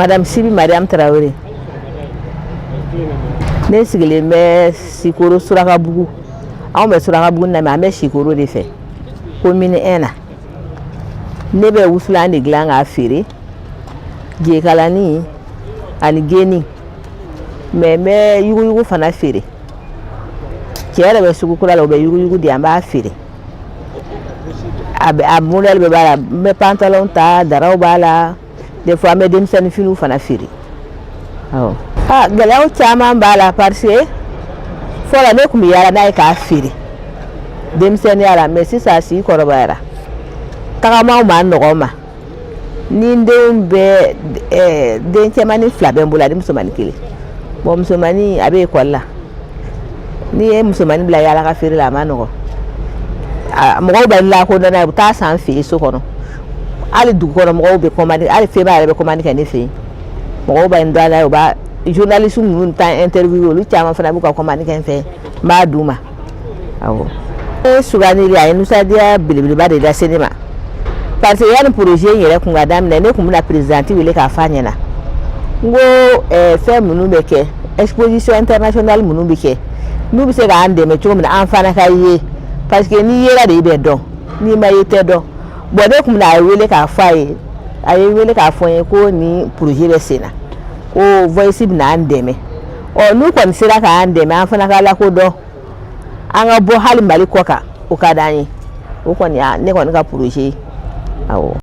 Madame Sibi Mariam Traoré ne sigilen bɛ Sikoro Surakabugu anw bɛ Surakabugu na mais an bɛ Sikoro de fɛ commune 1 na ne bɛ wusulan de dilan k'a feere jekalani ani geni mais n bɛ yuguyugu fana feere cɛ yɛrɛ bɛ sugu kura la o bɛ yuguyugu di an b'a feere a bɛ a modèle bɛɛ b'a la n bɛ pantalon ta daraw b'a la des fois an bɛ denmisɛnnin finiw fana feere awɔ aa gɛlɛyaw caman b'a la parce que fɔlɔ ne tun bɛ yaala n'a ye k'a feere denmisɛnninya la mais sisan a si kɔrɔbayara tagamaw man nɔgɔn n ma ni n denw bɛ ɛɛ den cɛmannin fila bɛ n bolo ani musomannin kelen bon musomannin a bɛ ekɔli la n'i ye musomannin bila yaala ka feere la a man nɔgɔn a mɔgɔw bɛ n lakodɔn n'a ye u bɛ taa san n fɛ yen so kɔnɔ hali dugu kɔnɔ mɔgɔw bɛ kɔmandi hali feba yɛrɛ bɛ kɔmandi kɛ ne fɛ yen mɔgɔw bɛ n dɔn a la u b'a journaliste ninnu ta interview olu caman fana b'u ka kɔmandi kɛ n fɛ n b'a d'u ma awɔ ne sugandili a ye nisɔndiya belebeleba de lase ne ma parce que yanni projet in yɛrɛ kun ka daminɛ ne tun bɛna présidente wele k'a f'a ɲɛna n ko eh, fɛn minnu bɛ kɛ exposition internationale minnu bɛ kɛ n'u bɛ se k'an dɛmɛ cogo min na an fana ka ye parce que n'i yera de i bɛ dɔn n'i ma ye i tɛ dɔn bon ne kun bɛna a wele k'a fɔ a ye a ye n wele k'a fɔ n ye ko nin projet bɛ sen na ko Voice bɛna an dɛmɛ ɔ n'u kɔni sera k'an dɛmɛ an fana ka lakodɔn an ka bɔ hali Mali kɔkan o ka d'an ye o kɔni ne kɔni ka projet ye awɔ